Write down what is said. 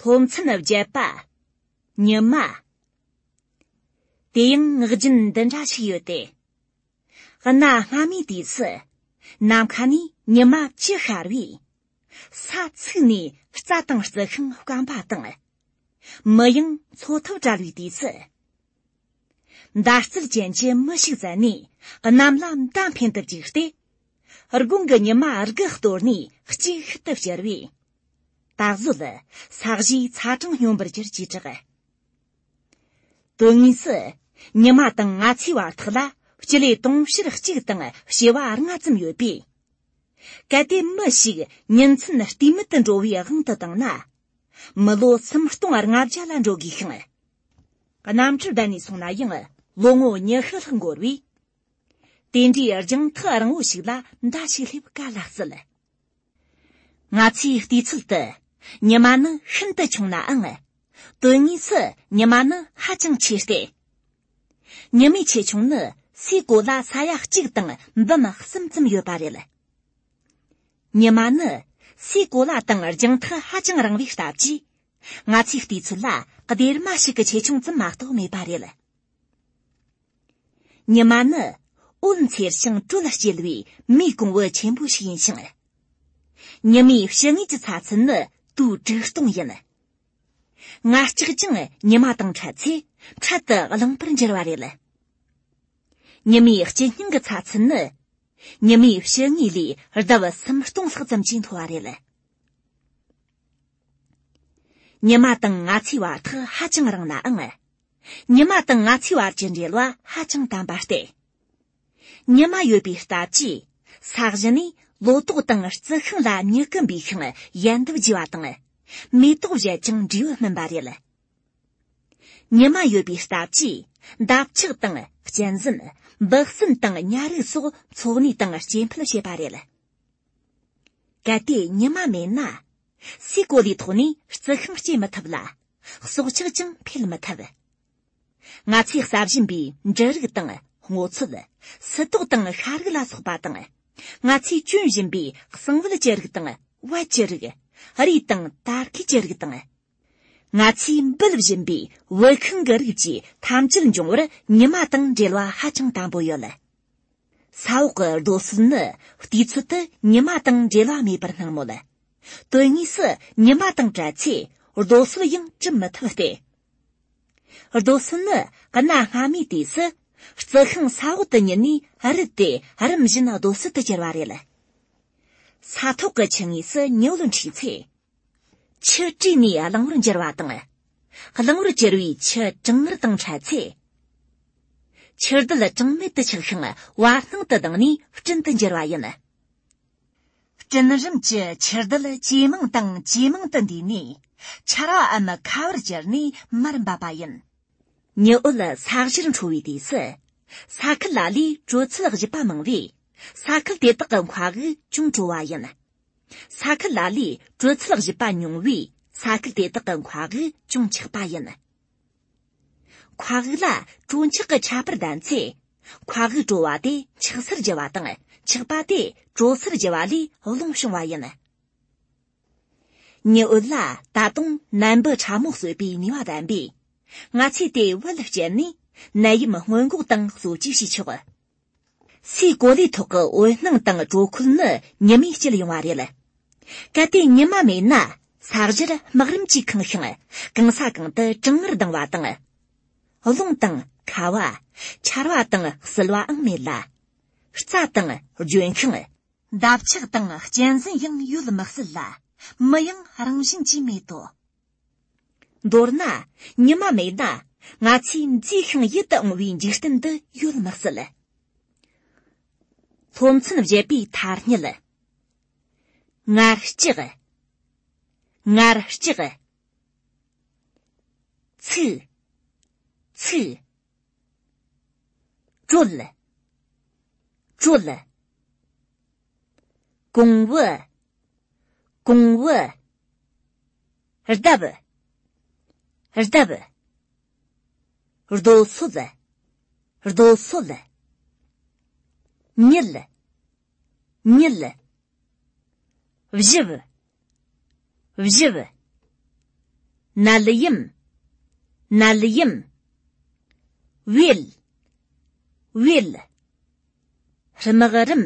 སློབ་ཚན་བརྒྱད་པ། ཉི་མ། དེ་ཡང་ངག་རྒྱུན་འདི་འདྲ་ཞིག་ཡོད་དེ། གནའ་སྔ་མོའི་དུས་སུ་ནམ་མཁའ་ནས་ཉི་མ་ཅི་ཤར་བས། ས་ཚིགས་ནས་རྩྭ་དང་རྩི་ཤིང་བསྐམས་པ་དང། མི་ཡང་འཚོ་ཐབས་བྲལ་བའི་དུས་སུ། མདའ་རྩལ་ཅན་གྱི་མི་ཞིག་བཙལ་ནས་གནམ་ལ་མདའ་འཕེན་དུ་བཅུག་སྟེ། སྒོང་གི་ཉི་མ་དགུ་གཏོར་ནས་གཅིག་ཤུལ་དུ་བསྐྱུར་བས། སྟག་བཟོད། ས་གཞིའི་ཚ་གྲང་སྙོམས་པར་གྱུར་ཅེས་གྲགས། དོན་དངོས་སུ། ཉི་མ་དང་ལྔ་ཚའི་བར་ཐག་ལ་སྤྱི་ལེ་སྟོང་ཕྱིར་གཅིག་དང་བྱེ་བ་ལྔ་ཙམ་ཡོད་པས། གལ་ཏེ་མི་ཞིག་ཉིན་མཚན་བལྟས་མེད་དུ་འགྲོ་བའི་དབང་དུ་བཏང་ན། མི་ལོ་ཚིམ་སྟོང་ལྔ་བརྒྱ་ལ་འགྲོ་དགོས་ཤིང། གནམ་གྲུ་བརྡལ་ནས་སོང་ན་ཡང་ལོ་ངོ་ཉི་ཤུ་ལྷག་འགོར་བས། དེ་འདྲའི་རྒྱང་ཐག་རིང་བོ་ཞིག་ལ་མདའ་ཞིག་སླེབས་ག་ལ་སྲིད། ང་ཚོའི་ལྟོས་ཚུལ་དུ་ཉི་མ་ནི་ཤིན་ཏུ་ཆུང་ནའང། དོན་དངོས་སུ་ཉི་མ་ནི་ཧ་ཅང་ཆེ་སྟེ། ཉི་མའི་ཆེ་ཆུང་ནི་སའི་གོ་ལ་ས་ཡ་གཅིག་དང་འབུམ་གསུམ་ཙམ་ཡོད་པ་རེད། ཉི་མ་ནི་སའི་གོ་ལ་དང་རྒྱང་ཐག་ཧ་ཅང་རིང་བའི་སྟབས་ཀྱིས། ང་ཚོའི་བལྟས་ཚོད་ལ་སྡེར་མ་ཞིག་གི་ཆེ་ཆུང་ཙམ་མ་གཏོགས་མེད་པ་རེད། ཉི་མ་ནི་འོད་འཚེར་ཞིང་དྲོད་ལ་སྐྱེལ་བའི་མིའི་གོང་བུ་ཆེན་པོ་ཞིག་ཡིན་ཞིང། ཉི་མའི་ཕྱི་ངོས་ཀྱི་ཚ་ཚུན་ནི་དུས་དྲུག་སྟོང་ཡིན། ང་ལྕགས་ཀྱང་ཉི་མ་དང་འཕྲད་ཚེ་འཕྲལ་དུ་རླངས་པར་འགྱུར་བ་རེད། ཉི་མའི་དཀྱིལ་སྙིང་གི་ཚ་ཚུན་ནི་ཉི་མའི་ཕྱི་ངོས་ལས་ལྡབ་གསུམ་སྟོང་ལྷག་ཙམ་གྱིས་མཐོ་བ་རེད། ཉི་མ་དང་ང་ཚོའི་བར་ཐག་ཧ་ཅང་རིང་ནའང་ཉི་མ་དང་ང་ཚོའི་བར་གྱི་འབྲེལ་བ་ཧ་ཅང་དམ་པ་སྟེ། ཉི་མ་ཡོད་པའི་སྟབས་ཀྱིས་ས་གཞི་ནས་ལོ་ཏོག་དང་རྩི་ཤིང་ལ་མྱུ་གུ་འབུས་ཤིང་ཡལ་འདབ་རྒྱས་པ་དང་མེ་ཏོག་བཞད་ཅིང་འབྲས་བུ་སྨིན་པ་རེད། ཉི་མ་ཡོད་པའི་སྟབས་ཀྱིས་འདབ་ཆགས་དང་གཅན་གཟན་འབུ་སྲིན་དང་ཉྭ་རིགས་སོགས་འཚོ་གནས་དང་སྐྱེ་འཕེལ་བྱེད་པ་རེད། གལ་ཏེ་ཉི་མ་མེད་ན། སའི་གོ་ལའི་ཐོག་ནས་རྩི་ཤིང་སྐྱེ་མི་ཐུབ་ལ། སྲོག་ཆགས་ཀྱང་འཕེལ་མི་ཐུབ། ང་ཚོས་ཟ་བཞིན་པའི་འབྲུ་རིགས་དང་སྔོ་ཚོད། སི་ཏོག་དང་ཤ་རིགས་ལ་སོགས་པ་དང། ང་ཚོས་གྱོན་བཞིན་པའི་གསང་བལ་གྱི་རིགས་དང་བལ་གྱི་རིགས། རུས་དང་དར་གས་ཀྱི་རིགས་དང། ང་ཚོས་འབུལ་བཞིན་པའི་དབུལ་ཁང་གི་རིགས་ཀྱིས་ཐམས་ཅད་འབྱུང་བར་ཉི་མ་དང་འབྲེལ་བ་ཧ་ཅང་དམ་པོ་ཡོད། ས་འོག་གི་རྡོ་སོལ་ནི་དུས་ཚོད་དུ་ཉི་མ་དང་འབྲེལ་བ་མེད་པར་སྣང་མོད། དོན་དངོས་སུ་ཉི་མ་དང་བྲལ་ཚེ་རྡོ་སོལ་ཡང་བྲི་མི་ཐུབ་སྟེ། རྡོ་སོལ་ནི་གནའ་སྔ་མོའི་དུས་སུ་རྩི་ཤིང་ས་འོག་ཏུ་ཉིལ་ནས་རུལ་ཏེ་རིམ་བཞིན་རྡོ་སོལ་དུ་གྱུར་བ་རེད། ས་ཐོག་གི་ཆུ་ངོས་སུ་ཉི་འོད་འཁྲིགས་ཚེ། ཆུ་བྲིས་ནས་གླང་བོར་འགྱུར་བ་དང། གླང་བོར་གྱུར་པའི་ཆུ་གྲང་ངར་དང་འཕྲད་ཚེ། ཆུ་རྡུལ་གྲང་མེད་དུ་ཆགས་ཤིང་བར་སྣང་དུ་ལྡང་ནས་སྤྲིན་དུ་འགྱུར་བ་ཡིན། སྤྲིན་རིམ་གྱི་ཆུ་རྡུལ་ཇེ་མང་དང་ཇེ་མང་དུ་འདས་ནས་ཆར་བའམ་ཁ་བར་གྱུར་ནས་མར་འབབ་པ་ཡིན། ཉི་འོད་ས་གཞིར་འཕྲོ་བའི་དུས་སུ། ས་ཁུལ་ལ་ལའི་དྲོད་ཚད་བཞི་པ་མང་བས་ས་ཁུལ་དེ་དག་གི་མཁའ་དབུགས་ཅུང་དྲོ་བ་ཡིན། ས་ཁུལ་ལ་ལས་དྲོད་ཚད་བཞི་པ་ཉུང་བས་ས་ཁུལ་དེ་དག་གི་མཁའ་དབུགས་ཅུང་ཆག་པ་ཡིན། མཁའ་དབུགས་ལ་དྲོད་མཆག་གི་ཁྱད་པར་ལྡན་ཚེ། མཁའ་དབུགས་དྲོ་བ་དེ་མཆག་སར་འགྱུར་བ་དང་མཆག་པ་དེ་དྲོ་སར་འགྱུར་བ་ལས་རླུང་བྱུང་བ་ཡིན། ཉི་འོད་ལ་ད་དུང་ནད་འབུ་ཕྲ་མོ་གསོད་པའི་ནུས་པ་ལྡན་པས། ང་ཚོས་དེའི་དབུ་ལ་བསྐྱལ་ནས་ནད་ཡམས་སྔོན་འགོག་དང་གསོ་བཅོས་བྱེད་ཆོག། སའི་གོ་ལའི་ཐོག་གི་འོད་སྣང་དང་དྲོ་ཁུལ་ནི་ཉི་མས་བསྐྱེད་ཡོང་བ་རེད། གལ་ཏེ་ཉི་མ་མེད་ན་ས་གཞིར་སྨག་རིམ་གྱིས་ཁེངས་ཤིང་གང་ས་གང་དུ་གྲང་ངར་ལྡང་བ་དང། རླུང་དང། ཁ་བ། ཆར་བ་དང་བསིལ་བའང་མེད་ལ། རྩྭ་དང། ལྗོན་ཤིང། འདབ་ཆགས་དང་གཅན་གཟན་ཡང་ཡོད་མི་སྲིད་ལ། མི་ཡང་རང་བཞིན་གྱིས་མེད་དོ། མདོར་ན། ཉི་མ་མེད་ན་ང་ཚོས་མཛེས་ཤིང་ཡིད་དུ་འོང་བའི་འཇིག་རྟེན་འདི་ཡོད་མི་སྲིད། སློབ་ཚན་བཞི་པའི་ཐ་སྙད། ངར་ལྕགས། ངར་ལྕགས། ཚིག། ཚིག། དྲོད། དྲོད། གོང་བུ། གོང་བུ། རྡབ། རྡབ། རྡོ་སོལ། རྡོ་སོལ། མྱུལ། མྱུལ། བཞི། བཞི། ནལ་ཡིམ། ནལ་ཡིམ། བྷེལ། བྷེལ། རྨག་རིམ།